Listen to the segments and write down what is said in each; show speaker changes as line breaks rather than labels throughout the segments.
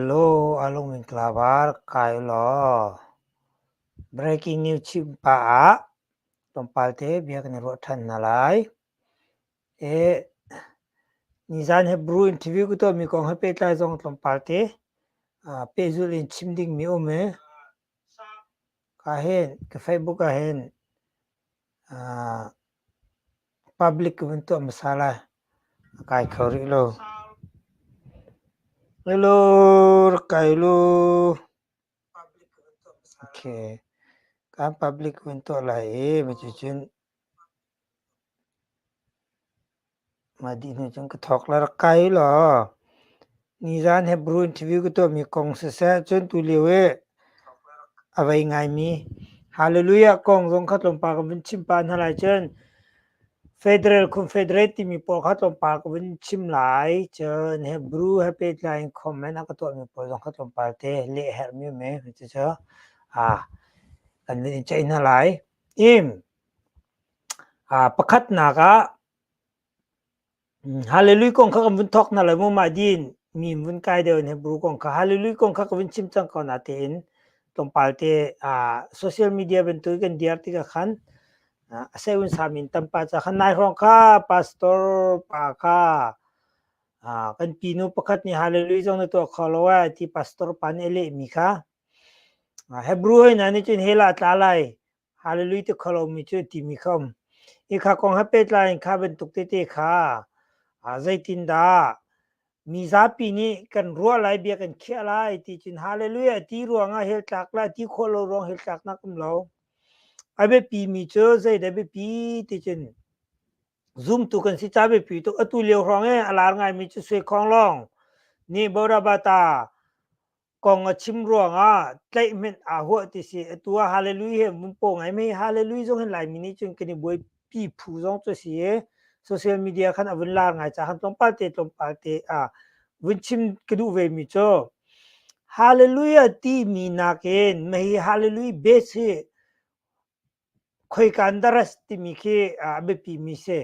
Loo a lung in tla var kai ulaw breaking news chim pah ah tlawmpal te bia kan i ruah ṭhan hna lai. Nizaan he Brew Interview ka tuahmi kong he pehtlai zong tlawmpal te pehzulh in chim dingmi a um i ka hen, ka Facebook ah hen Public ka vun tuah hmasa lai, a kai kho rih lo. Hello, rak kai lu. Ok, kan public ka vun tuah lai i, mi cu cun. Mah dih hnu cun ka thawk lar kai law nizan Hebrew interview ka tuahmi kong siseh cun tulio i a vei ngaimi Hallelujah kong zong kha tlawmpal ka vun chim pah hna lai cun Federal Confederate timi pawl kha tlawmpal ka vun chim lai cun Hebrew he pehtlai in comment a ka tuahmi pawl zong kha tlawmpal te leh a herhmi um e cucu a kan vun in ceih hna lai. Im! Pakhatnak ah Hallelujah kong kha kan vun thawk hna lai mu mah din mi vun kai deuh in Hebrew kong kha Hallelujah kong kha ka vun chim cang ko natein tlawmpal te social media bantuk kan diar tikah khan a sei un sa min tampa ca khan nai hrawng kha pastor pa kha kan pinu pakhat nih Hallelujah zong na tuah kho lo ai ti pastor pa nih a lehmi kha Hebrew hoi hna nih cun hell ah a tla lai Hallelujah ti kho lomi cu a timi khom. Hi kha kong he pehtlai in kha bantuk tete kha ah zeitindah mi zapi nih kan ruah lai bia kan khiah lai ti cun hallelujah ti ruangah hell tlak lai ti khawh lo ruang hell tlaknak um lo. A biapi mi cu zeidah biapi ti cun zumtu kan si ca biapi tuk atu lio hrawng e a lar ngaimi cu suai khawng lawng nih Bodhabata kong a chim ruangah tlaihhmenh aa huah ti si atu ah hallelujah he mun po ngai mei hallelujah zong hin laimi nih cun kan i buai pi phu zong cu si i social media khan a vun la ngai ca khan tlawmpal te tlawmpal te a vun chim ka duh ve mi cu hallelujah ti mi nak in mei hallelujah base hi Khoikandaras timi khi a biapimi si.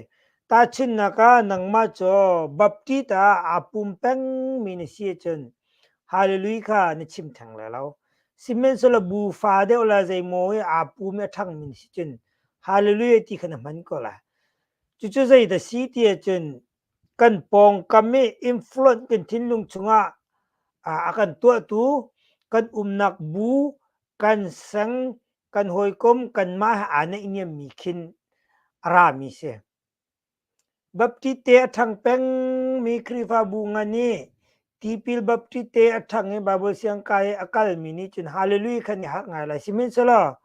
Tahchunhnak ah nangmah cu Baptist ah aa pum pengmi na si ahcun Hallelujah kha na chim theng lai lo. Sihmanhsehlaw bu fa deuh le zeimaw i aa pum i a ṭhangmi na si cun Hallelujah ti kha na hman ko lai. Cucu zeidah si ti ahcun kan pawngkam i influence kan thinlung chungah a kan tuahtu kan umnak bu, kan sang kan hawikom kanmah he aa naihniammi khin a rami si. Baptiste a ṭhang pengmi Khrihfabu ngan i tipil Baptiste a ṭhang i Baibal siangka i a kalmi nih cun haleluja khan i harh ngai lai. Sihmanhsehlaw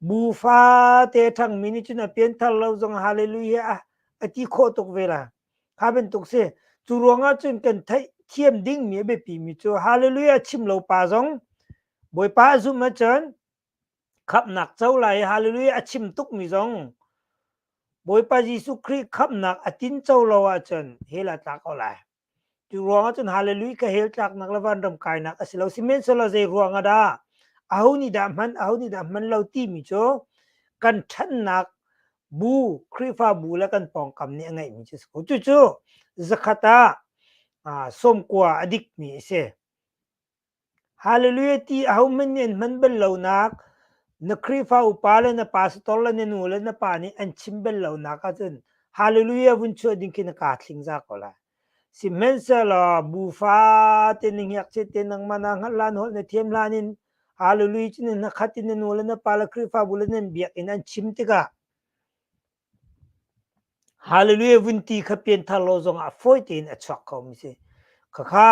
bu fate ṭhangmi nih cun a pianthar lo zong haleluja a, a ti khawh tuk ve la. Kha bantuk si. Cu ruangah cun kan theih thiam dingmi a biapimi cu haleluja chim lo pa zong Bawipa a zumh ahcun Khamhnak co lai hallelujah a chim tukmi zong Bawipa Jesuh Khrih khamhnak a tin co lo ahcun hell a tlak ko lai. Cu ruang ahcun hallelujah ka hell tlaknak le van ram kainak a si lo. Sihmanhsehlaw zei ruang ah dah aho nih dah hman aho nih dah hman lo timi cu kan ṭhannak bu Khrihfabu le kan pawngkam nih a ngeihmi cu a si ko. Cucu zakhat ah sawmkua a dikmi a si. Haleluia ti ahohmanh nih an hman bal lonak, na Khrihfa upa le na pastor le na nu le na pa nih an chim bal lonak ahcun Haleluia vun chuah ding khi na kaa thlingza ko lai. Sihmanhsehlaw bu fate na ngiakchiat te nangmah naa hngalh hlan holh na thiam hlan in Haleluia cu na hnakhat in na nu le na pa le Khrihfabu le nan biakinn an chim tikah Hallelujah vunti kha pianthar law zongah fawi tein a chuak khomi si. Khakha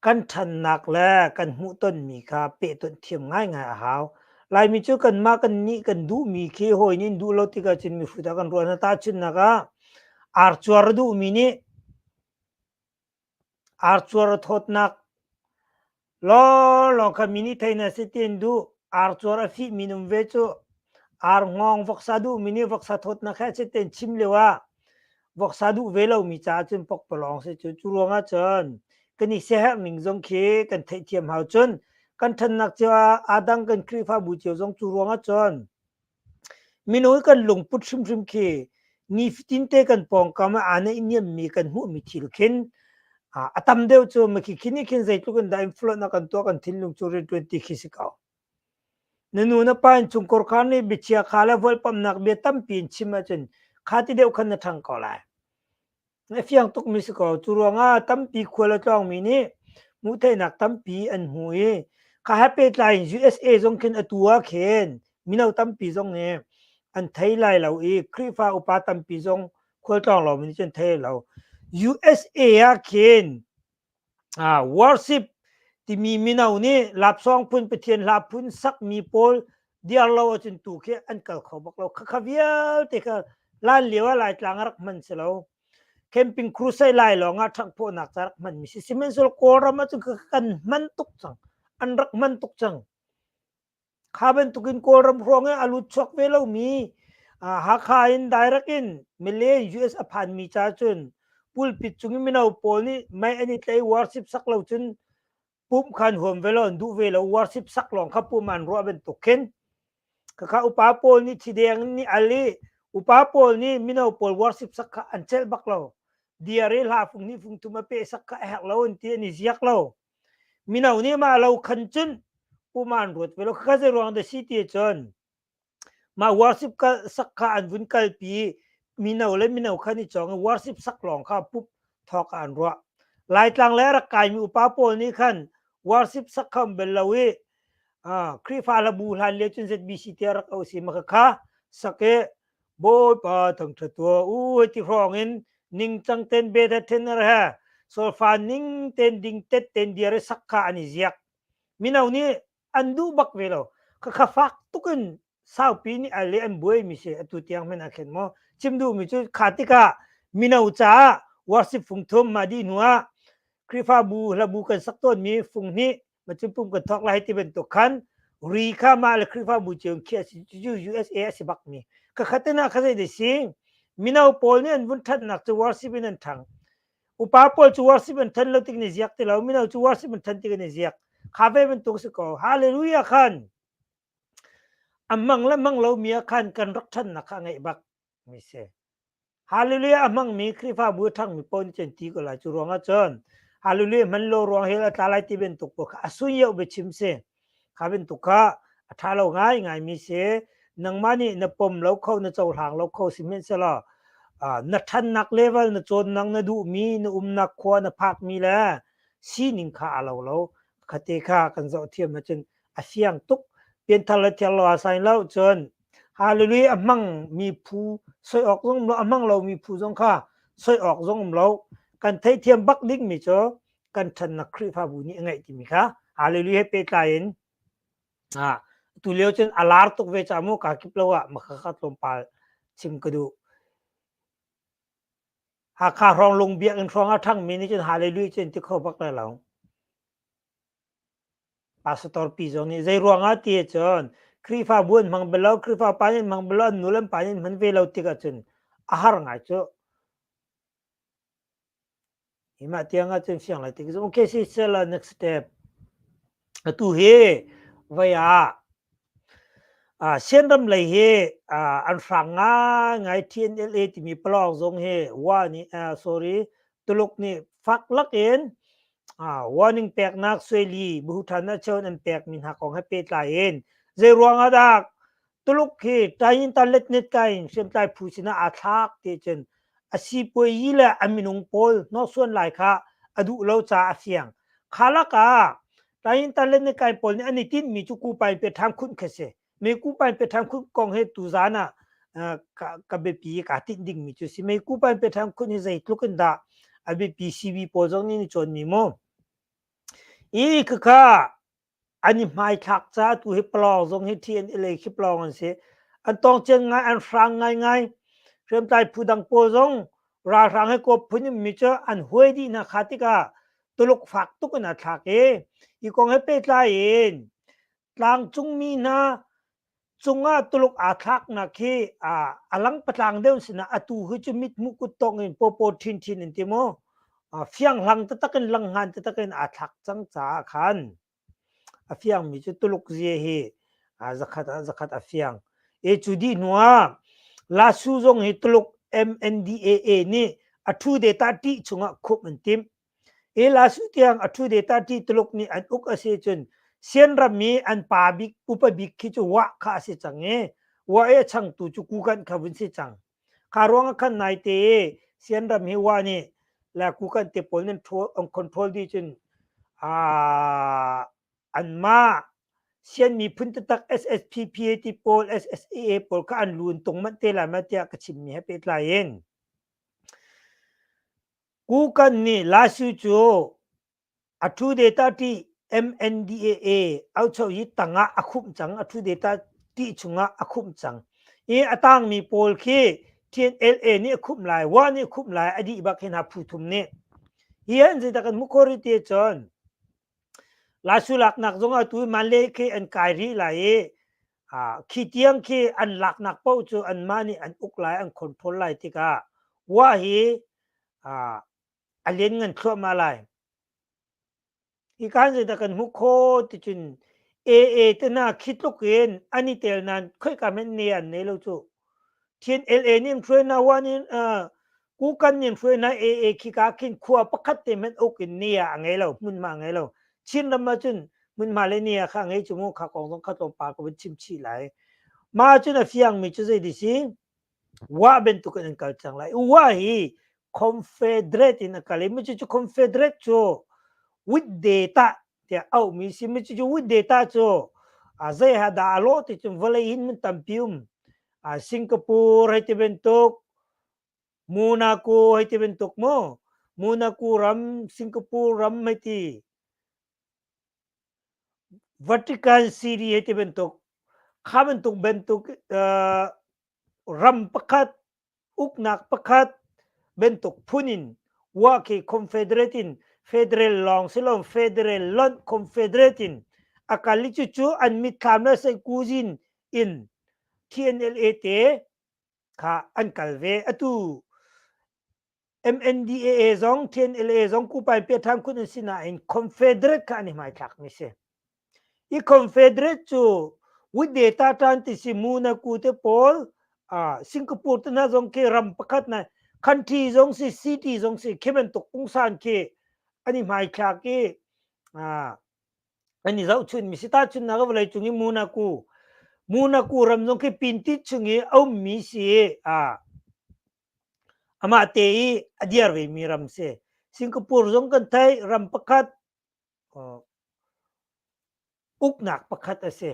kan ṭhannak le kan hmuhtonmi kha pehtonh thiam ngaingai a hau. Laimi cu kanmah kan nih kan duhmi khi hawi nih an duh lo tikah cun mihrut ah kan ruah hna. Tahchunhnak ah, arcuar a duhmi nih Arcuar a thawtnak lawnglawng kha mi nih thei na si tiin duh. Arcuar a fih mi um ve cu arngawng voksa duhmi nih voksa thawtnak he a si tiin chim lio ah voksa duh ve lomi caah cun pokpalawng a si cu. Cu ruang ahcun kan i siaherh ning zong khi kan theihthiam hau. Cun kan ṭhannak cio ah aa dang kan Khrihfabu cio zong cu ruang ahcun Minung kan lungput hrimhrim khi nifatin te kan pawngkam ah aa naihniammi kan hmuhmi thil khin a tam deuh cu makhikhin nih khin zeitluk in dah influence a kan tuah kan thinlung cu rianṭuan ti khi si ko. Na nu na pa in chungkor kha nih biachia kha le vualpamhnak bia tampi in chim ahcun kha ti deuh khan na ṭhang ko lai. A fiang tukmi si ko. Cu ruangah tampi khual a tlawngmi nih hmuhtheihnak tampi an hmu i kha he pehtlai in USA zong khin atu ah khin mino tampi zong nih an thei lai lo i Khrihfa upa tampi zong khualtlawng lawngmi nih cun an thei lai lo. USA ah khin worship timi mino nih lapsawng phun pathian hla phun sakmi pawl diar lo ahcun tu khi an kal kho bak lo khakha vialte kha lan lio ah laitlang rak hman si lo camping crusade lai lawng ah ṭhangphawhnak ca rak hmanmi si sihmanhsehlaw kawlram ahcun kan hman tuk cang an rak hman tuk cang kha bantukin kawlram hrawng i a lut chuak ve lomi Hakha in direct in Malay US a phanmi ca cun pulpit cung i mino pawl nih mei an i tlei worship sak lo cun pumh khan huam ve law an duh ve lo worship sak lawng kha pumh an ruah bantuk khin khakha upa pawl nih thideng nih al i upa pawl nih mino pawl worship sak kha an celh bak lo diar i hla fung nih fung thum a peh sak kha a herh lo an ti an i ziak lo Mino nih mah lo khan cun um an ruat ve lo. Khakha zei ruang dah si ti cun mah worship kal sak kha an vun kalpi mino le mino kha ni cawng i worship sak lawng kha pup thawk ah an ruah. Laitlang le rak kaimi upa pawl nih khan worship sak kha um bel lo i Khrihfa Labu hlan lio cun ZBC tiah rak auh si ma khakha sak i Bawipa thangṭha tuah u ti hrawng in ningcang ten be that then ar ha solfa ning ten ding tet ten diare sakka an i ziak mino nih an duh bak ve lo ka kha fak tukin saupi nih ale an buai mi se atu tiang men a khen mo chim du mi chu kha tika mino caah worship phung thum ma di hnu ah Krifabu hlabu kan sak ton mi phung hnih macupum kan thok lai ti bantuk khan ri kha mah le Khrihfabu cu USA a si bak mi kakhatin ah khazai de si mino pawl nih an vun ṭhatnak cu worship in an ṭhang upa pawl cu worship an than lo tik ni ziak ti lo mino cu worship an than tik ni ziak kha ve bantuk si ko hallelujah khan amang le mang lo mi khan kan rak ṭhannak kha ngai bak mi si. Hallelujah a hmangmi Khrihfabu a ṭhangmi pawl nih cun ti ko lai. Cu ruangah cun hallelujah hman lo ruang hi a tla lai ti bantuk pawl kha a sun yeuh biachim si. Kha bantuk kha a ṭha lo ngaingai mi si. Nangmah nih na pom lo kho, na cohlang lo kho sihmanhsehlaw na ṭhannak level, na cawnnak, na duhmi, na umnak khua na phakmi le sining kha a lo lo. Khate kha kan zoh thiam ahcun a fiang tuk. Pianthar le thiar lo ah sain lo cun Hallelujah a hmangmi phu soi awk zong um lo, a hmang lomi phu zong kha soi awk zong um lo. Kan theithiam bak dingmi cu kan ṭhannak Khrihfabu nih a ngeih timi kha Hallelujah he pehtlai in ah tu lio cun a lar tuk ve ca mu kaa kip lo ah makha kha tlawmpal chim ka duh. Hakha hrawng Lung Biakinn hrawng a ṭhangmi nih cun Hallelujah cu an ti kho bak lai lo. Pastor pi zong nih zeiruangah ti ahcun Khrihfabu an hmang bal lo, Khrihfa pa nih an hmang bal lo, an nu le an pa nih an hman ve lo tik ahcun a har ngai cu. Hi mah tiang ahcun fiang lai tik cu. Okay sister, la next step. Atu hi voi ah uh, Shenram lei hi uh, an hrang ngaingai TNLA timi palawng zong hi wa nih uh, sorry Tuluk nih fak lakin warning peknak sueli buhuthan achon an pek mi hna kong he pehtlai in zei ruangah dah tuluk hi tain talet net kain hriamtlai phu sinah aa thlak ti cun a sipuai yi le a minung pawl hnawsuan lai kha a duh lo ca a fiang kha lak ah tain talet net kain pawl nih an i tinh mi cu kupai pe tham khun kha si me ku pan pe tham khut kong he tu zan a ka bepi ka tin ding mi chu si me ku pan pe tham khut ni zei tluk in da a bepi cv pawl zong ni chon mi mo i kha kha ani mai thak cha tu he plong zong he TNLA khi plong an se an tong chen ngai an hrang ngai ngai hrem tai phu dang pawl zong ra hrang he ko phun mi cha an huai di na kha tika tuluk fak tuk na thlak e i kong he pe tla in Tlangcungmi hna cungah Tuluk aa thlaknak hi a langpatlang deuh sinah atu hi cu mithmuh kuttawng in paw ṭhinchin in ti mu fianghlang taktak in langhngan taktak in aa thlak cang caah khan a fiangmi cu Tuluk zie hi zakhat ah zakhat a fiang. E cu dih hnuah Lasu zong hi Tuluk MNDAA nih a thu data ṭih chungah khumh an timh. Elasu tiang a ṭhu deta ṭi Tuluk nih an uk a si cun Sian ram i an pa bik upa bik khi cu Wah kha a si cang i Wah i a changtu cu Kukan kha vun si cang. Kha ruang ah khan naite i Sian ram hi Wah nih le Kukan te pawl nan an control dih cun aa anmah Sian miphun tatak SSPPA ti pawl SSEA pawl kha an lu in tung manh te lai ma tiah ka chimmi he pehtlai in Kukan nih Lasu cu a thu data ti MNDAA aucho hi tang ah a khumh cang. A thu data ti chung ah a khumh cang. I a tangmi pawl khi TNLA nih a khumh lai, WA nih a khumh lai, a dih bak hi hna phu thum nih. Hi an zeidah kan hmuh ko rih ti ahcun Lasu laknak zong ah tu man le khi an kai rih lai i khi tiang khi an laknak paoh cu anmah nih an uk lai an khonphol lai tikah wa hi a len ngan thluahmah lai hi kan zeidah kan hmuh kho ticun aa tena khi tluk in an i tel nan khoi kamen ne an nei lo cu thin la nin thruena wa nin kukan nin hruai na e e khika khin khua pakhat te met uk in ni a ngei lo mun ma ngei lo chin ram ma cun mun ma le ni a kha ngei chumu kha kong zong kha tlawm pa ko chim chi lai ma cun a fiang mi cu zei di si wa ben tu kan kal chang lai wa hi confederate in a kal mi cu confederate chu with data te au mi si mi chu with data chu a zai ha da lo ti chung vale in mun tampium a singapore hai ti bentuk Monaco hei ti bantuk maw Monaco ram Singapore ram hei ti Vatican City hei ti bantuk kha bantuk bantuk uh, ram pakhat uknak pakhat bantuk phun in wa khi confederate in federal long silo federal lon confederate in akali chu chu an mitthlam na sai kuzin in TNLA te kha an kal ve atu MNDAA zong TNLA zong kupai pe tham khun an sinain Confederate kha an i hmaithlak mi si i Confederate cu with data tan ti si mu na ku te pawl uh, Singapore te na zong ke ram pakhat na country zong si city zong si khimen tuk pungsan ke ani mai thlak i uh, kan i zohchun mi si ta chun na ka vawlei cung i munaku munaku ram zong khi pintit chung i a ummi si a amah te i a diar ve mi ram si singapore zong kan thai ram pakhat uknak pakhat a si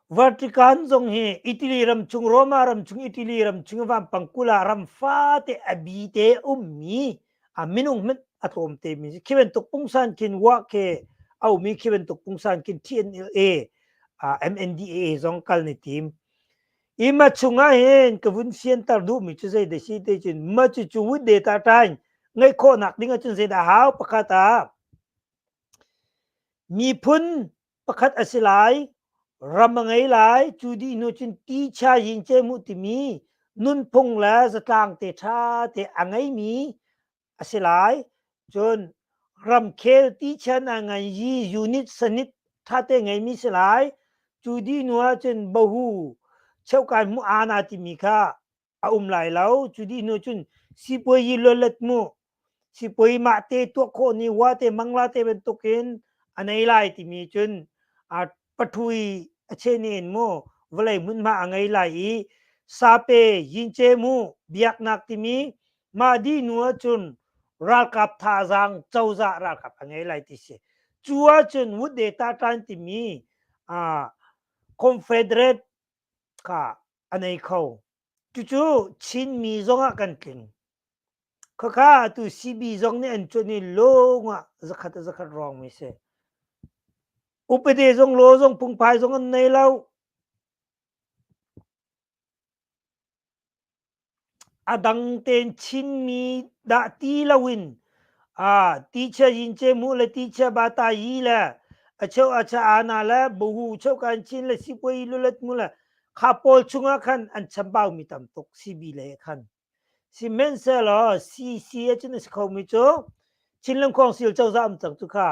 Vatican zong hi Italy ramchung, Roma ramchung, Italy ramchung vampang kul ah ram fate a bite ummi a minung hmanh a tlawm te mi si. Khi bantuk pungsan khin wah ke a ummi khi bantuk pungsan khin TNLA uh, MNDAA zong kal ni tim. I ma chungah hin ka vun siantar duhmi cu zei de si te cun ma cu cu wut de ta tain ngai khawhnak ding ahcun zeidah hau pakhat ah miphun pakhat a si lai ram a ngei lai cu dih hnu cun ti chia yin ce mu timi nunphung le zatlang te ṭha te a ngeimi a si lai cun ramkhel ti chia na ngan yi unit sanit ṭha te ngeimi si lai cu dih hnu ah cun bohu cheukai mu ana timi kha a um lai lo cu di nu cun sipuai yi lolat mu sipuai mah te tuah khawh ni wa te mangla te bantuk in anei lai timi cun a pathui a che ne in mu vawlei hmun ma a ngei lai i sape yinche mu biak nak timi ma di nu cun ralkap tha zang choza ralkap a ngei lai ti si cu ah cun wut de ta tan timi a confederate ka a nei kho. Cucu Chinmi zongah kan tling. Khakha tu CB zong nih an cuan i lawng ah zakhat a zakhat rong mi si. Upate zong law zong pungphai zong an nei lo. A dang tein Chinmi dah ti loin aa tichia zince mu le tichia bata yi le a cheu a cha ana le bohu cheu kan chin le sikoi lulet mu le kha pawl chungah khan an chambau mi tam tuk si bi le khan sihmanhsehlaw CC a cun a si kho mi cu Chin Lam Khawng Sil cozah um cang cu kha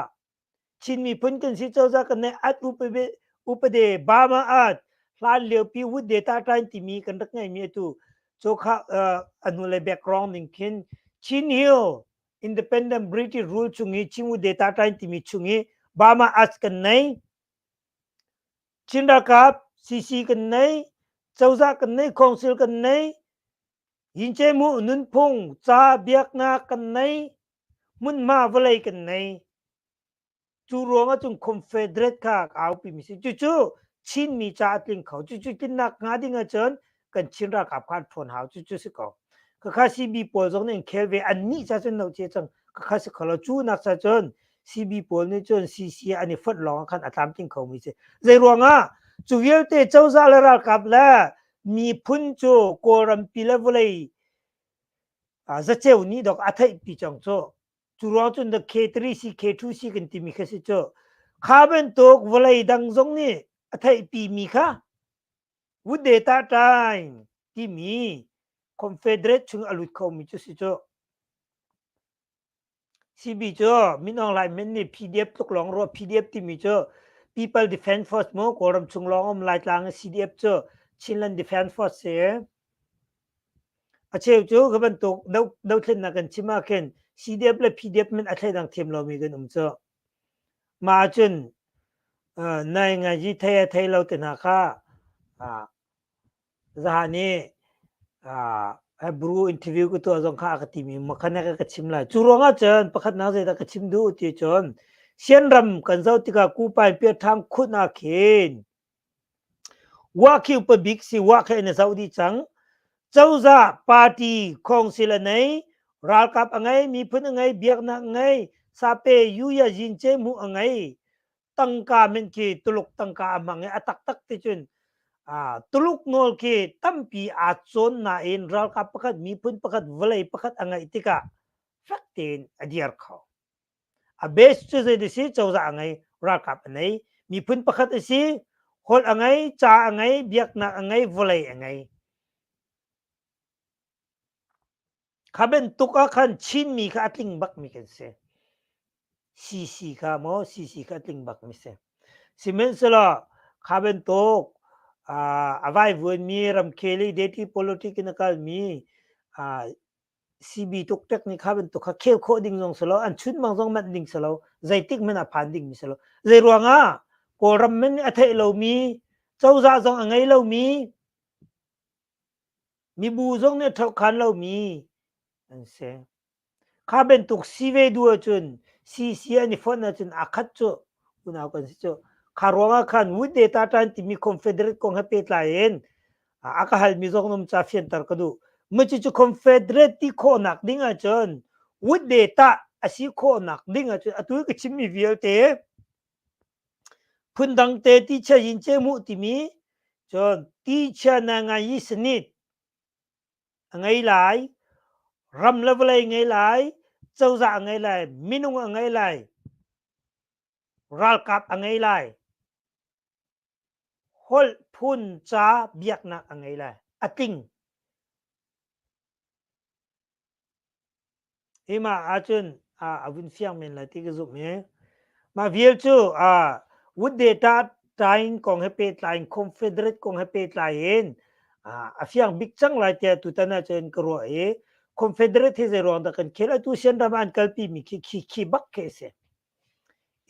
Chin miphun kan si cozah kan neih at upade upade bama at hlan liopi wut data tain timi kan rak ngaimi atu cho kha anu le background ning khin Chin Hill Independent British rule chung i Chinwu data tain timi chung i Bama Arts kan nei Chin Ralkap CC kan nei Cozah kan nei Council kan nei Yinche Mu Nunphung ca biaknak kan nei hmunhma vawlei kan nei. Cu ruang ahcun Confederate kha a aupi mi si. Cucu Chinmi ca a tling kho. Cucu tlinnak hnga ding ahcun kan Chin ralkap kha an ṭhawn hau. Cucu si ko. Kakha CB pawl zong nih an khel ve. Annih ca cun noche cang kakha si kho lo. Cu nak ca cun CB pawl nih cun CCA an i fonh lawng ah khan a tlamtling kho mi si. Zei ruangah? Cu vialte cozah le ralkap le miphun cu Kawlrampi le vawlei Zaceu nih dok a theihpi cang cu. Cu ruang cun the K3 si K2 si kan timi kha si cu kha bantuk vawlei dang zong nih a theihpi mi kha wood data time timi confederate chung a lut kho mi cu si cu CB cu Minong Lai Men nih PDF tluk lawng ruah PDF timi cu People Defense Force mu Kawlram chung lawng um Laitlang CDF cu Chinland Defense Force si a cheu cu ka bantuk dothlennak kan chim ah khin CDF le PDF min a thlai dang thiam lomi kan um cu ma cun nai ngaji thei a thei lo te hna kha Zaan i Hebrew interview ka tuah zong kha a ka timi makhanek a ka chim lai. Cu ruangah cun pakhatnak zeidah ka chim duh ti cun Sianram kan zoh tikah Kupain Piathang khun ah khin Wahkhiu pabik si Wahkhe na zoh dih cang. Cozah party khongsil a nei, ralkap a ngei, miphun a ngei, biaknak a ngei, sape, yu ya, yin, ce, mu a ngei. tangka men khi tuluk tangka a mang i a taktak ti cun uh, tuluk nawl khi tampi aa cawn nain ralkap pakhat miphun pakhat vawlei pakhat a ngeih tikah fak tein a dir kho a base cu zei si cozah a ngei ralkap a nei miphun pakhat a si hol a ngei ca a ngei biaknak a ngei vawlei a ngei Kha bantuk ah khan Chinmi kha a tling bakmi kan si. CC kha maw CC kha a tling bakmi si. Sihmanhsehlaw kha bantuk a vaivuanmi ramkhel i deti politik in a kalmi CB tuk tek nih kha bantuk kha khel khawh ding zong silo, an chunmang zong manh ding silo, zeitik man a phan ding mi silo. Zei ruangah Kawlram man a theih lomi, cozah zong a ngei lomi, Mibu zong nih ṭhokhan lomi an si. Kha bantuk si ve duh ahcun si si an i fonh ahcun aa khat cu unau kan si cu. Kha ruangah khan Wood Data ṭan timi Confederate kong he pehtlai in a ka halmi zong na um caah fianter ka duh. Cucu Confederate ti khawhnak ding ahcun Wood Data a si khawhnak ding ahcun atu i ka chimmi vialte Phundang te tichia yin cem uh timi cun tichia na ngai i sanit a ngei lai, ram le vawlei a ngei lai, cozah a ngei lai, minung a ngei lai, ralkap a ngei lai, holh phun ca biaknak a ngei lai, a tling. Hi ma ahcun a vun fiang men lai ti ka zumh i mah vial cu Wood Data tain kong he pehtlai in Confederate kong he pehtlai in a fiang bik cang lai tiah tutan ahcun ka ruah i Confederate hi zeiruang dah kan khel a tusian ram ah an kalpi mi khi bak khi a si.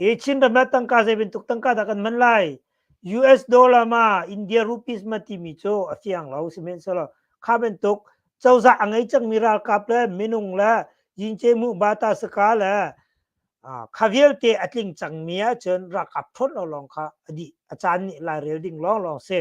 Hi Chin ramrat tangka zei bantuk tangka dah kan hman lai? US dollar ma India rupees ma timi cu a fiang lo. Sihmanhsehlaw kha bantuk cozah a ngei cangmi ralkap le minung le yince mu bata saka le kha vialte a tling cangmi ahcun ralkap ṭhawn lo lawng kha a dih a caan nih lairel ding lawnglawng a si.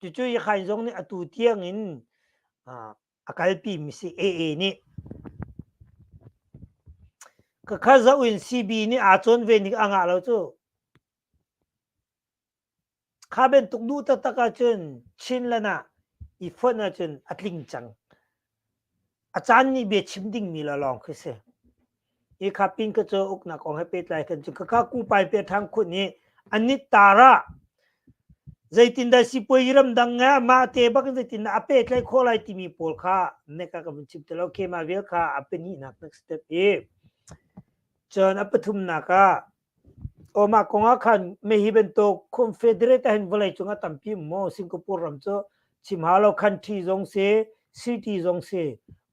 Cucu Yakhain zong nih atu tiang in a kalpi mi si AA nih. Kakha za in CB nih aa cawn ve ning a ngah lo cu. Kha bantuk duh taktak ahcun Chin lan ah i fonh ahcun a tling cang. A caan nih bia chim dingmi la lawng khi si. Hi kha pin ka cu uknak kong he pehtlai kan cu kaka ku pai pe thang khun nih anit tar ah zeitin dah sipuai ramdang nge mah te bak zeitin dah a petlai khawh lai timi pawl kha neka ka vun chim te lo kema vial kha a penihnak nak step i cun a pathumnak ah Omah kong ah khan meh hi bantuk Confederate ah hin vawlei cung a tampi maw Singapore ram cu chim hau lo country zong si city zong si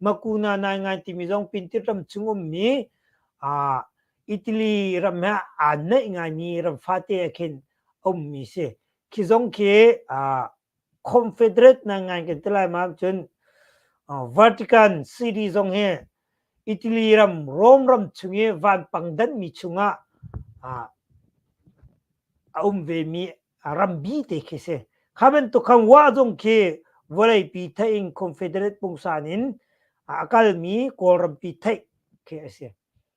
makuna nai ngai timi zong pintirtam chung ummi aa Italy ram he aa neih ngaimi ram fate ah khin a ummi si. Khi zong khi aa Confederate nai ngai kan ti lai ma ahcun Vatican city zong hi Italy ram Rome ram chung i vanpang danhmi chungah a um vemi rambi te khi si. Kha bantuk khan wah zong khi vawleipi theih in Confederate pungsan in a kalmi Kawlrampi theih khi a si.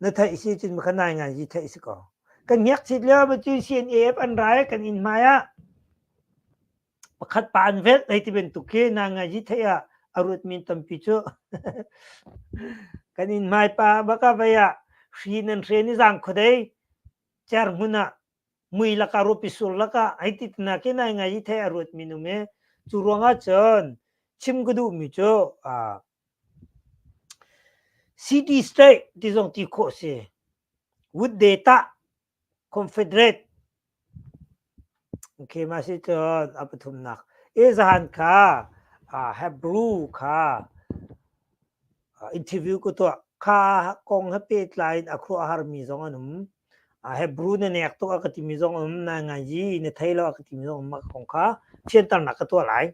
na theih si cun ka nai ngai hi theih si ko kan ngiak chit lio cu CNAF an rai kan in hmai ah pakhat pa an vet ei ti bantuk khi na ngai hi theih ah a ruat min tampi cu kan in hmai pa baka vai ah hri nan hre ni zang khodei cer hun ah mui laka rupi sur laka ai ti na khi nai ngai hi theih a ruat min um e cu ruang ah cun chim ka duh mi cu a City state ti zong ti khawh a si. Wudde tah Confederate okay mah si cun a pathumnak Ezahan kha aa Hebrew kha interview ka tuah. Kha kong he pehtlai in a khuaruahharmi zong an um. Hebrew na nek tuk a ka timi zong um na ngaji na thei lo a ka timi zong um a ka kong kha thianternak ka tuah lai.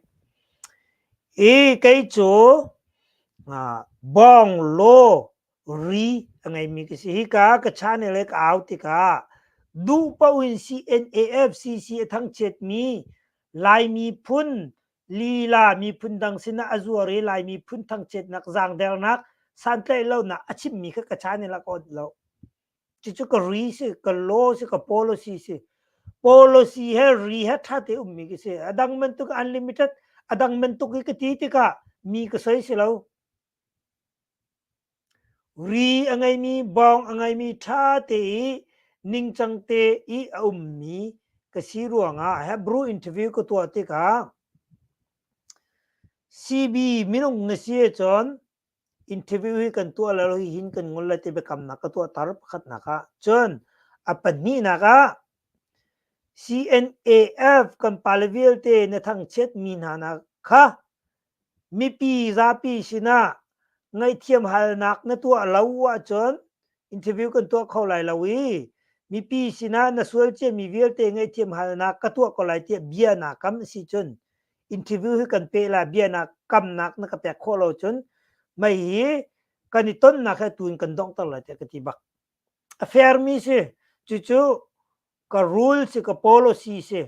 I kei cu bong lo ri a ngeimi ka si hi ka ka channel le ka au tikah duh paoh in CNAFCC a thangchiat mi Laimi phun lila miphun dang sinah a zuar i Laimi phun thangchiatnak zangdernak santlaih lonak a chimmi kha ka channel ah ka onh lo. Cucu ka ri si, ka law si, ka policy si. Policy he ri he ṭha te ummi khi si. A dang bantuk unlimited, a dang bantuk i ka ti tikah mi ka soi si lo. Ri a ngeimi, bawng a ngeimi ṭha te i ningcang te i a ummi ka si ruangah Hebrew interview ka tuah tikah CB minung na si ahcun interview hi kan tuah lo hihin kan ngol le ti biakamnak ka tuahter pakhatnak ah cun a pahnihnak ah CNAF kan pale vialte na thangchiat mi hna na kha mipi zapi sinah ngaihthiam halnak na tuah lo ahcun interview kan tuah kho lai lo i mipi sinah na sual cia mi vialte ngaihthiam halnak ka tuah ko lai tiah bia na kam a si cun interview hi kan pe la bia na kamnak na ka pek khawh lo cun mei hi kan i tonnak he tun kan dongter lai tiah ka ti bak a fair mi si cucu ka rule si ka policy si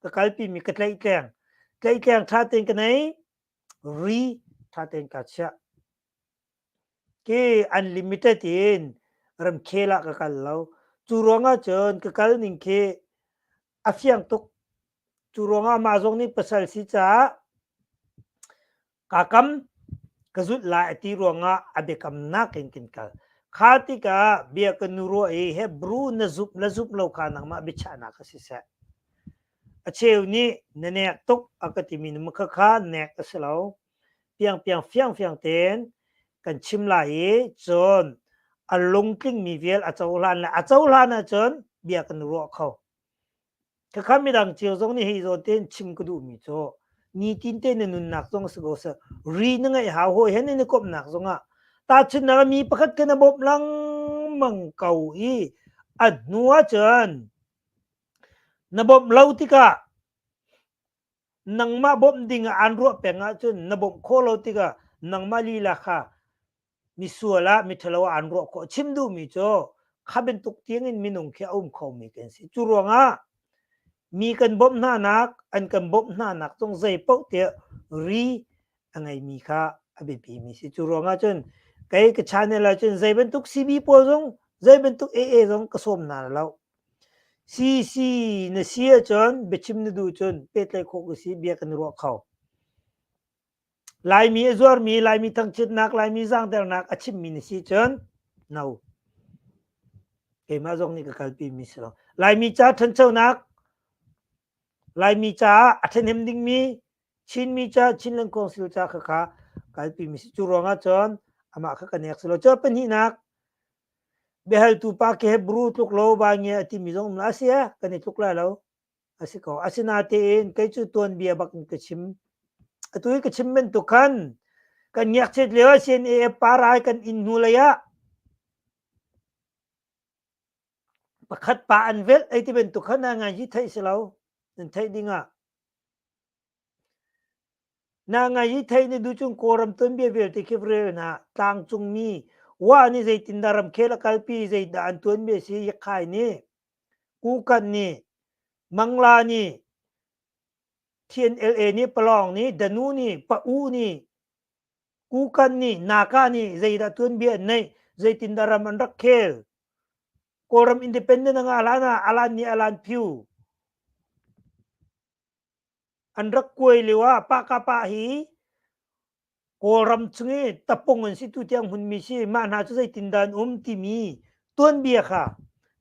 ka kalpi mi ka tleih tleng tleih tleng tha ten ka nei ri tha ten ka chia Ke unlimited in ramkhel ah ka kal lo. Cu ruangah cun ka kal ning khi a fiang tuk. Cu ruangah mah zong nih pasal si caah kaa kam ka zulh lai a ti ruangah a biakamnak in kin kal. Kha tikah bia ka nu ruah i Hebrew na zumh le zumh lo kha nangmah biachahnak ah si seh. A cheu nih na nek tuk a ka timi na khakha nek a si lo. piangpiang fiangfiang tein kan chim lai i cun a lungtlingmi vial a cohlan lai a cohlan ahcun bia kan ruah kho khakha midang cio zong nih hi zawn tein chim ka duhmi cu nitin te na nunnak zong si ko seh ri na ngeih hau hawi hen na komhnak zong ah tahchunhnak mi pakhat ke na bawmh lengmang ko i a hnu ahcun na bawmh lo tikah nangmah bawmh ding ah aan ruah peng ahcun na bawmh khawh lo tikah nangmah lila kha misual ah miṭhalo ah aan ruah khawh. Chim duhmi cu kha bantuk tiangin minung khi a um khomi kan si. Cu ruangah mi kan bawmh hnanak, an kan bawmh hnanak zong zei paoh tiah ri a ngeimi kha a biapimi si. Cu ruangah cun kei ka channel ahcun zei bantuk CB pawl zong zei bantuk AA zong ka sawm hna lo. CC na si ahcun biachim na duh cun pehtlaih khawh ka si bia kan i ruah kho. Laimi a zuarmi, Laimi thangchiatnak, Laimi zaangternak a chimmi na si cun no. Keimah zong nih ka kalpimi si lo. Laimi ca ṭhanchonak, Laimi caah a ṭhahnem dingmi Chinmi ca Chinland Council ca kha kha kalpi mi si. Cu ruangah cun amah kha ka nek si lo. Cun pahnihnak biahaltu pa ke Hebrew tluk lo vai nge a timi zong a si ah kan i tluk lai lo. A si ko. Asinatein kei cu tuanbia bak in ka chim. Atu i ka chim bantuk khan kan ngekchet lio ah CNAF parai kan in hnu lei ah pakhat pa an velh ei ti bantuk khan ngai hi theih si lo. Nan theih ding ah Na ngaih hi theih na duh cun Kawlram tuanbia vialte khi va rel hna. Tlangcungmi wah nih zeitindah ramkhel a kalpi, zeidah an tuanbia a si, Yakkai nih, Kukan nih, Mangla nih, TNLA nih, Palawng nih, Danu nih, Pa-u nih, Kukan nih naka nih zeidah tuanbia an neih zeitindah ram an rak khel Kawlram independent a ngah hlan ah alan nih alan phyu an rak kuai lio ah pahka pa hi Kawlram chung i tapung an si tu tiang hmunmi si mah hna cu zeitindah an um timi tuanbia kha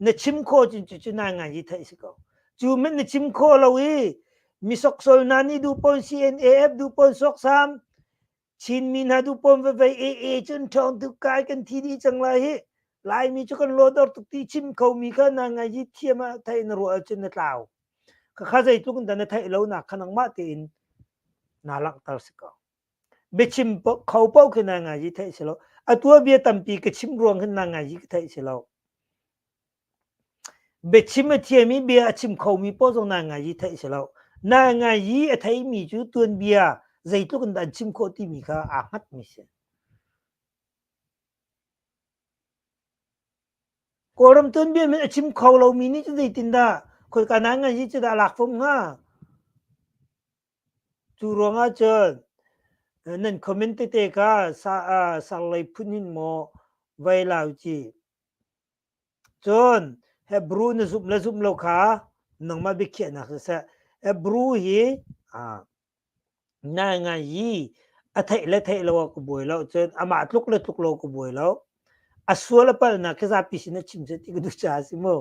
na chim kho cun cucu nai ngai hi theih si ko cu min na chim kho lo i misoksol na nih duhpon CNAF duhpon soksam Chinmi hna duhpon vevei AA cun ṭhawng tu kai kan thi dih cang lai hi Laimi cu kan lodor tuk ti chim kho mi kha na ngai hi thiam ah theih na ruah cun na tlau ka kha zeitluk in da na theih lo na kha nangmah tein na langhter si ko Biachim kho paoh khi nai ngaizi theih si lo. A tuabia tampi ka chimh ruang hin nai ngaizi ka theih si lo. Biachim a thiam i bia a chim khomi paoh zong nai ngaizi theih si lo. Nai ngaizi a theimi cu tuanbia zeitluk in dah an chim khawh timi kha aa hngatmi si. Kawlram tuanbia min a chim kho lomi nih cu zeitindah khoika nai ngaizi cu dah a lak fom hnga? Cu ruangah cun nan comment tete kha sarlei phun in maw vai lau ci. Cun Hebrew na zumh le zumh lo kha nangmah biakhiahnak siseh Hebrew hi nai ngai i a theih le theih lo ah ka buai lo cun amah tluk le tluk lo ka buai lo. A sual a palhnak khi zapi sin a chim seh ti ka duh caah a si maw?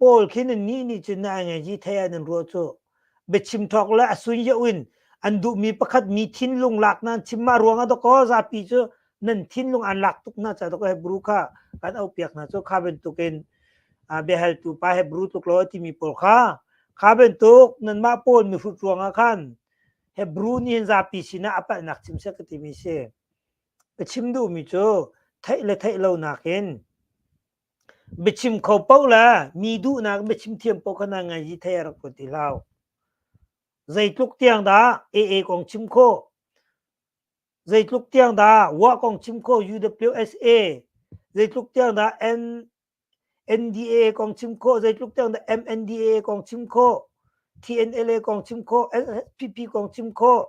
Paul khi nan nih nih cun na engeji thei ah nan ruah cu. Biachim thawk le a sun yauh in an duhmi pakhat mi thinlung lak nan chim mah ruangah dok aw zapi cu nan thinlung an lak tuk hna ca dok Hebrew kha kan aupiak hna cu kha bantukin ah biahaltu pa Hebrew tluk lo a timi pawl kha kha bantuk nanmah Paul mihrut ruangah khan Hebrew nih hin zapi sinah a palhnak chim sek ka timi si. Ka chim duhmi cu theih le theih lonak in Biachim kho paoh le mi duhnak biachim thiam paoh kha nan ngaih dih thei a rak ruat ti hlau. Zeitluk tiang dah AA kong chim khawh, zeitluk tiang dah WA kong chim khawh UWSA, zeitluk tiang dah N, NDAA kong chim khawh, zeitluk tiang dah MNDAA kong chim khawh, TNLA kong chim khawh, NSPP kong chim khawh,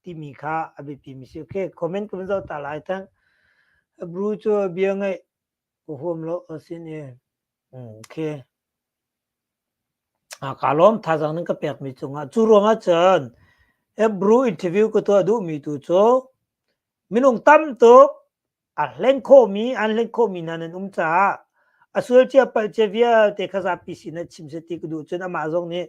timi kha a biapi mi si. Okay, comment kan zoh ta lai tang. Bru cu bia ngai ka huam lo asin e. Okay. A ka lom thazang nan ka pek mi cungah. Cu ruangah cun e bru interview ka tuah duh mi tu cu minung tam tuk a hleng khawhmi an hleng khawhmi hna nan um caah a sual cia palh cia vialte kha zapi sin ah chim seti ka duh cun amah zong nih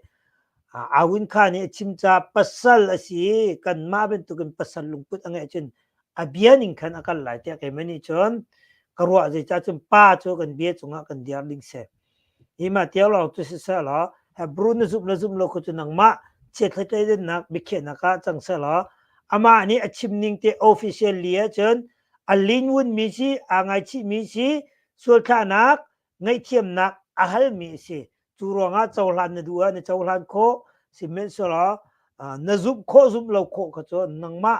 Awin Kha nih a chim ca pasal a si i kanmah bantukin pasal lungput a ngeih cun a bia ning khan a kal lai tiah kei mah nih cun ka ruah zeicah cun pa cu kan bia cungah kan diar ding si. Imahtiau lawng cu siseh law Hebrew na zumh le zumh lo kha cu nangmah chiathlei dennak biakhiahnak ah cang seh law amah nih a chim ning te officially ahcun a linwun mi si aa ngaichih mi si sualthlahnak ngaihthiamnak a hal mi a si cu ruangah cohlan na duh ah na cohlan khawh sihmanhsehlaw na zumh khawh zumh lo khawh kha cu nangmah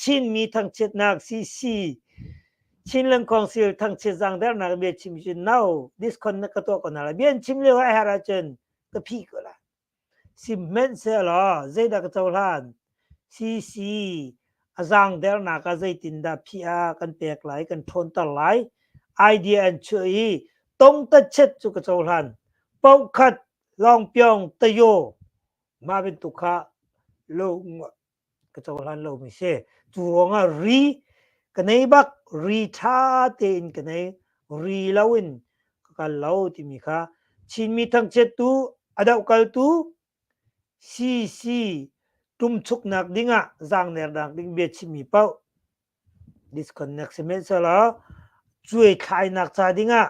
Chinmi thangchiatnak sisi Chin Lengkawngsil thangchiat zangdernak bia chim cun no this con na ka tuah ko na la bian chim lio a her ahcun ka phih ko la si hmanhsehlaw zeidah ka cohlan sisi a zangdernak ah zeitindah phih a kan pek lai kan ṭhawnter lai idea an chuah i tongtatchet cu ka cohlan paukhat lawngpyong tayo Mah bantuk kha lo ka cohlan lomi si. Cu ruangah ri ka nei bak ri ṭha tein ka nei. Ri loin ka kal lo timi kha Chinmi thangchiattu, a dohkaltu CC tumchuknak dingah zaangnernak ding bia chimmi paoh disconnect sihmanhsehlaw cuaithlainak ca dingah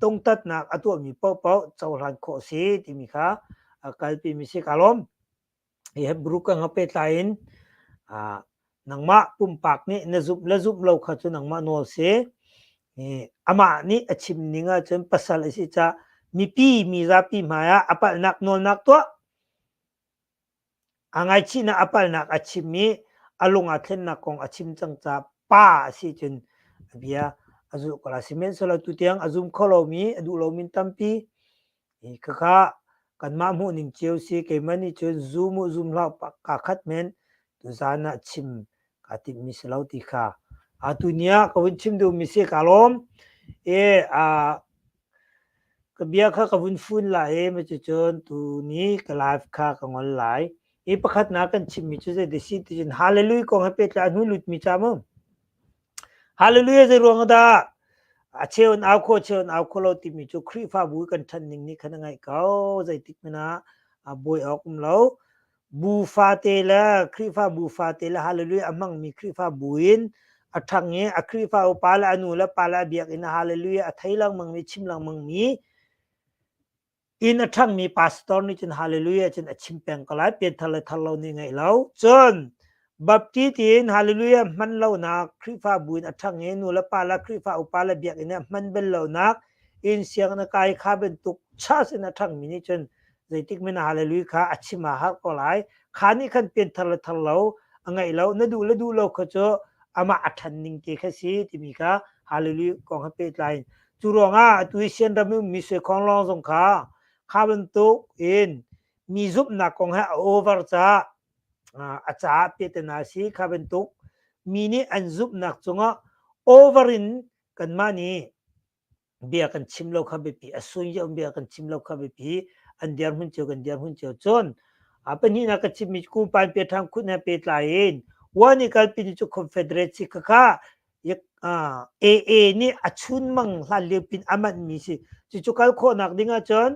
tungtatnak a tuahmi paohpaoh cohlan khawh si timi kha kalpi mi si ka lawm. Hi Hebrew ka nga petlai in nangmah pumpak nih na zumh le zumh lo kha cu nangmah nawl si. Amah nih a chim ning ahcun pasal a si caah mipi, mizapi hmai ah a palhnak nawlnak tuah. A ngaichihnak a palnak a chim i a lung ah thlennak kong a chim cang caah pa a si cun a bia a zulh ko lai. Sihmanhsehlaw tutiang a zum kho lomi, a duh lomi tampi khakha kanmah hmuhning cio si keimah nih cun zum u zum hlah kaa khat men tuzaan ah chim kaa timhmi si lo ti kha atu ni ah ka vun chim duhmi si kaa lawm. I aa Ka bia kha ka vun fun lai i cucun tuni ka live kha ka ngol lai. I pakhatnak kan chimmi cu zei desi ti cun Hallelujah kong he pehtlai a hnu lutmi ca mu. Hallelujah zei ruang ah dah a cheu in au kho cheu in au kho lo timi cu Khrihfabu kan ṭhan ning nih khan a ngaih ko. Zeitik hmanh ah a buai awk um lo. Bu fate le Khrihfabu fate le Hallelujah a hmangmi Khrihfabu in a ṭhang i a Khrihfa upa le a nu le pa le a biakinn ah Hallelujah a thei lengmangmi chim lengmangmi inn a ṭhangmi pastor nih cun Hallelujah cun a chim peng ko lai pian thar le thar lo nih ngeih lo cun Baptist in hallelujah hman lonak Khrihfabu in a ṭhang i nu le pa le Khrihfa upa le biakinn ah hman bel lonak in sianginn a kai kha bantuk church in a ṭhangmi nih cun zeitik men ah hallelujah kha a chim a har ko lai. Kha nih khan pianthar le thar lo a ngeih lo na duh le duh lo kha cu amah a ṭhan ning te kha si timi kha hallelujah kong ha pehtlai in cu ruangah atu i sian ram i mi suaikhawng lawng zong kha kha bantuk in mi zumhnak kong he a over caah a caah tetena si kha bantuk mi nih an zumhnak cungah over in kanmah nih bia kan chim lo kha biapi a sunje um bia kan chim lo kha biapi an dirhmun cio kan dirhmun cio cun a pahnih na ka chimmi ku pan pe thang khut na pe tlai in wan i kalpin cu confederate si kha AA nih a chun mang hlan liu pin aman mi si cu cu kal khawh nak ding ah cun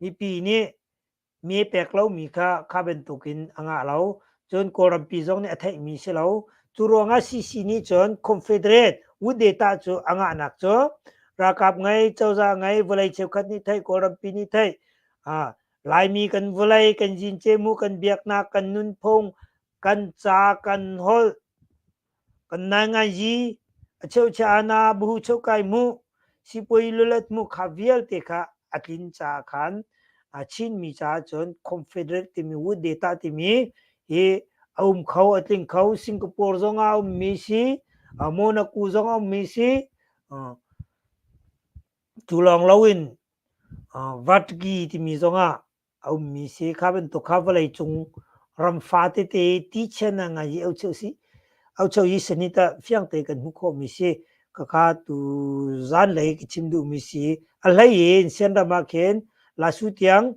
Mipi nih mee pek lomi kha kha bantukin a ngah lo. Cun Kawlrampi zong nih a theihmi si lo. Cu ruangah CC nih cun Confederate Wood Data cu a ngahnak cu ralkap ngei, cozah ngei, vawlei cheukhat nih theih, Kawlrampi nih theih, Laimi kan vawlei, kan zincemu, kan biaknak, kan nunphung, kan ca, kan holh, Kan nai ngaizi a cheuchia ana buhu cheu kai mu sipuai lulet mu kha vialte kha a tlin caah khan a Chinmi caah cun confederate timi wood data timi hi a um kho a tling kho Singapore zong a ummi si uh, Monaco zong a ummi si uh, cu lawng loin uh, Vatgi timi zong ah A ummi si kha bantuk kha vawlei cung ram fate te ti chian ah ngai i aucheu si aucheu i sani ta fiang te kan hmuh khawhmi si kakha tu zan lei ka chim duhmi si a hlei in sian ram ah khin lasu tiang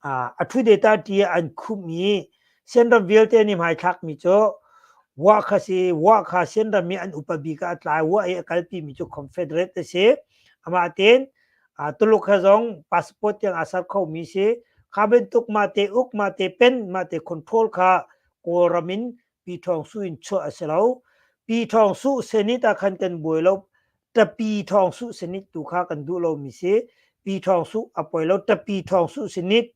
a thu data ti an khum i sian ram vialte ni mai thlak mi chu wa kha si wa kha sian ram i an upa bi ka tlai wa ai a kalpi mi chu confederate si ama ten uh, tuluk ha zong passport tiang asar kho mi si kha bentuk ma te uk ma te pen ma te control kha kawlram in pi thong su in chu asilo pi thong su senit a khan kan buai lo ta pi thong su senit tu kha kan du lo mi si pi thong su apoi lo ta pi thong su senit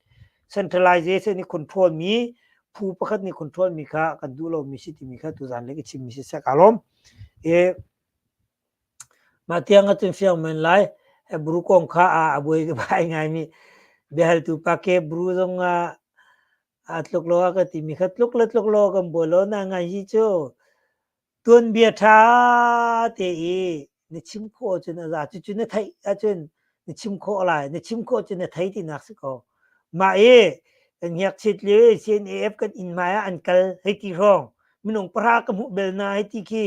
centralization ni control mi phu pakhat ni control mi kha kan du lo mi si ti mi kha tu zan le ki chim mi si sakalom e Mah tiang a tun fiang men lai. Ebru kong kha a a buai ai ngaimi biahaltu pa ke ebru zong ah aa tluk lo a ka timi kha tluk le tluk law kan buai lo. Na ngaih hi cu tuanbia ṭha te i na chim khawh ahcun a za. Cucu na theih ahcun na chim khawh lai. Na chim khawh ahcun na thei tinak si ko. Mah i kan ngakchiat lio i CNAF kan inn hmai ah an kal hei ti hrawng minung pahra ka hmuh bel hna hei ti khi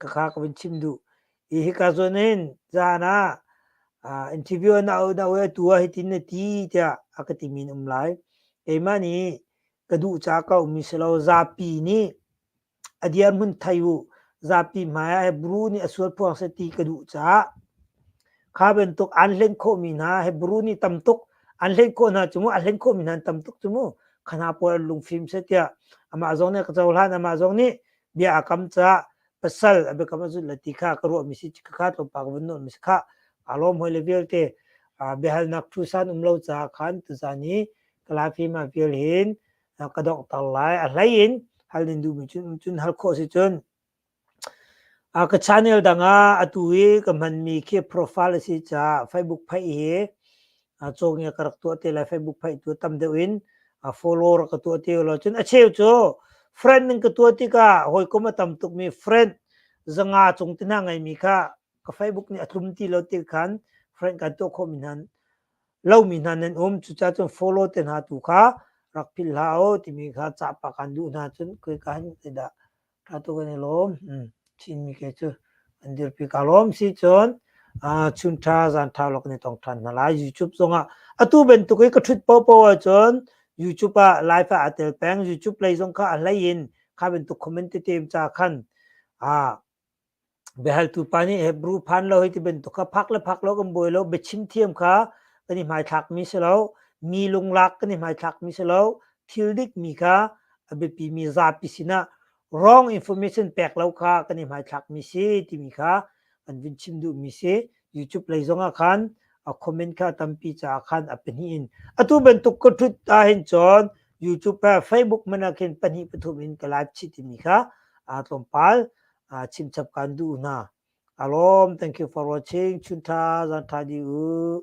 ka kha ka vin chim duh i hika zon hin zan ah uh, interview na au na we tua hitin na ti tiah a ka ti min um lai keimah nih ka duh ca ka um mi selo zapi nih a diar mun thai u zapi hmai he bru ni asual phuang se ti ka duh ca kha ben tuk an hlen kho mi hna he bru ni tam tuk an hlen kho hna chumu a hlen kho mi hna tam tuk chumu khana por lung phim se tia ama zong ne ka chau hlan ama zong ni bia a kam ca pasal abe kam azut la ti kha ka ruah mi si ka kha to pa ka vun nun mi si kha alom hoi le vialte biahalnak thu san um lo ca khan tuzan i kalafi ma vial hin ka dok tar lai a hlei in halin du mi cun cun hal kho si cun a ka channel dang a atu i ka man mi khi profile si ca facebook phai hi a cawng i ka rak tuah te lai Facebook phaih tu tam deuh in a follower ka tuah ti lo cun a cheu cu friend ning ka tuah tikah hawikom a tam tuk mi friend zanga cung te hna ngai mi kha ka Facebook nih a tlum ti lo ti khan friend kan tuah khawh mi hnan lo mi hna nan um cuca cun follow te hna tu kha rak philh hlah o timi kha cah pa kan duh hna cun koi ka han dah Atu kan i lawm. Hmm. Chinmi kei cu an dirpi ka lawm si cun uh, chunṭha zaanṭha lo kan i tong ṭhan hna lai. YouTube zongah atu bantuk i ka ṭhut popo ahcun YouTube ah live ah aa tel peng. YouTube lei zong kha a hlei in kha bantuk comment i tem ca khan uh, biahaltu pa nih Hebrew phan lo hei ti bantuk kha phak le phak lo kan buai lo biachim thiam kha kan i hmaithlak mi si lo mi lunglak kan i hmaithlak mi si lo thil dik mi kha a biapi mi zapi sinah wrong information pek lo kha kan i hmaithlak mi si timi kha kan vin chim duh mi si YouTube lei zong ah khan a comment kha tampi caah khan a pahnih in atu bantuk ka thut ta hin chon YouTube pa Facebook mana khin pahnih pathum in ka live chi timi kha a tlawmpal aa chimchap kan duh hna. A lawm, thank you for watching. Chun tha, zan tha di u.